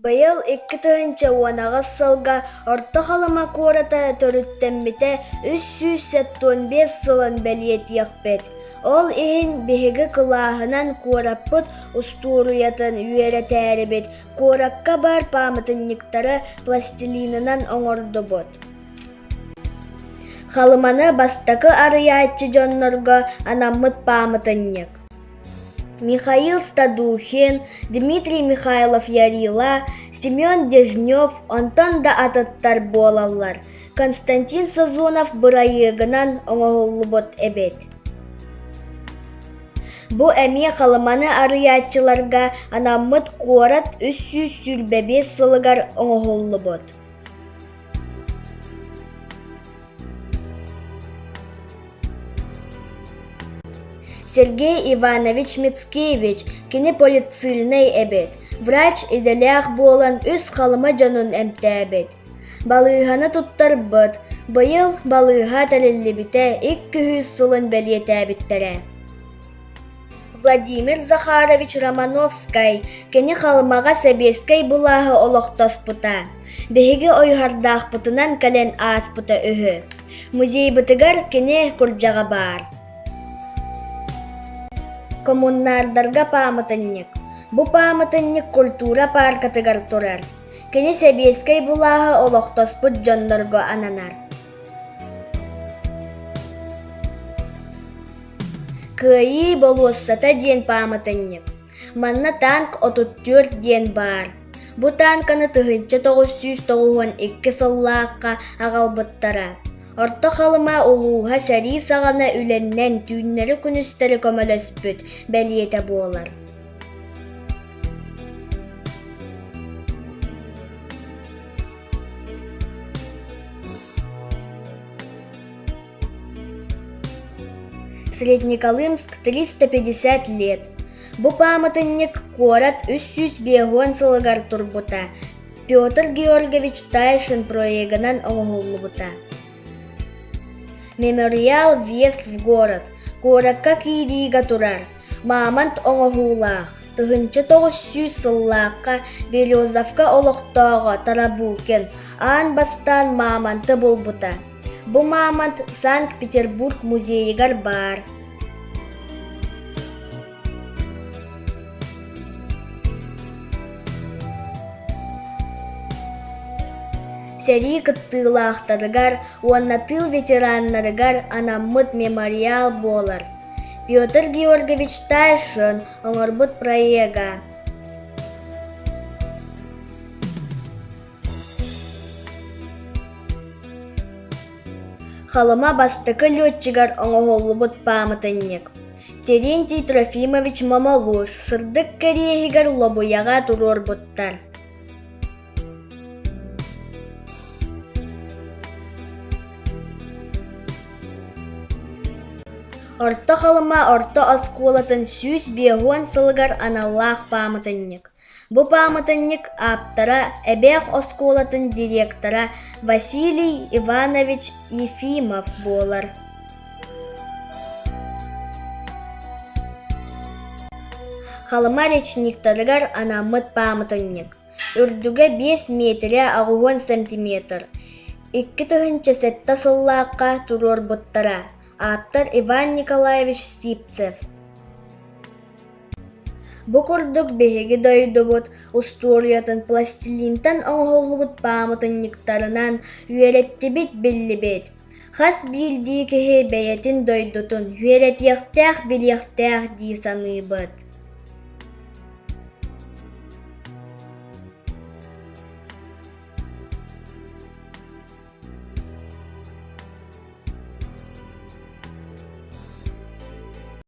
Быйыл икки тыһыынча уон аҕыс сылга Орто Халыма куората төрүттэммитэ үс сүүс сэттуон биэс сылын бэлиэтиэхпит. Ол иһин биһиги кылааһынан куораппыт устуоруйатын үөрэтээрибит, куоракка баар пааматынньыктары пластилинынан оҥордубут. Халыманы бастакы арыйааччы дьоннорго анаммыт пааматынньык. михаил стадухин дмитрий михайлов ярила семен дежнев онтон да атыттар буолаллар константин сазонов бырайыагынан оҥоһуллубут эбит бу эмиэ халыманы арыйааччыларга анаммыт куорат үс сүүс сүүрбэ биэс сылыгар оҥоһуллубут Сергей Иванович Мицкевич кини полицийнай эбит, врач идэлээх буолан үс Халыма дьонун эмтээбит. Балыыһаны туттарбыт, быйыл балыыһа тэриллибитэ икки сылын бэлиэтээбиттэрэ. Владимир Захарович Романовскай кини Халымаҕа сэбиэскэй былааһы олохтоспута. Биһиги ойуһардаахпытынан кэлэн ааспыта үһү. Музейбытыгар кини курдьаҕа баар. Коммунардарга пааматынньык. Бу пааматынньык культура пааркатыгар турар. Кини сэбиэскэй былааһы олохтоспут дьоннорго ананар. Кыайыы болуоссата диэн пааматынньык. Манна танк 34 диэн баар. Бу танканы тыһыынча тоҕус сүүс тоҕуһун икки сыллаахха аҕалбыттара. Орто Халыма улууһа сэрии саҕана үлэннэн түүннэри-күнүстэри көмөлөспүт бэлиэтэ буолар. Среднеколымск, 350 лет. Бу пааматынньык куорат үс сүүс биэһуон сылыгар турбута. Петр Георгиевич Тайшин проегынан оҥоһуллубута. Мемориал въезд в город куоракка киириигэ турар мамонт оҥоһуулаах тыһыынча тоҕус сүүс сыллаахха Березовка олохтооҕо Тарабукин аан бастаан мамонты булбута. Бу мамонт Санкт-Петербург музейыгар баар. Сэрии кыттыылаахтарыгар уонна тыыл ветераннарыгар анаммыт мемориал буолар Петр Георгиевич Тайшин оҥорбут проега Халыма бастакы летчигар оҥоһуллубут пааматынньык Терентий Трофимович Мамалуш сырдык кэриэһигэр лобуйаҕа туруорбуттар Орто Халыма орто оскуолатын сүүс биэһуон сылыгар аналлаах пааматынньык Бу пааматынньык ааптара, Эбээх оскуолатын директора Василий Иванович Ефимов буолар. Халыма речниктарыгар анаммыт пааматынньык. Үрдүгэ 5 миэтирэ аҕыһыан сантиметр. Икки тыһыынча сэттэ сыллаахха туруорбуттара. Ааптар Иван Николаевич Сипцев. Бу курдук биһиги дойдубут устуоруйатын пластилинтан оҥоһуллубут паамытынньыктарынан үөрэттибит-биллибит. Хас биирдии киһи бэйэтин дойдутун үөрэтиэхтээх-билиэхтээх дии саныыбыт.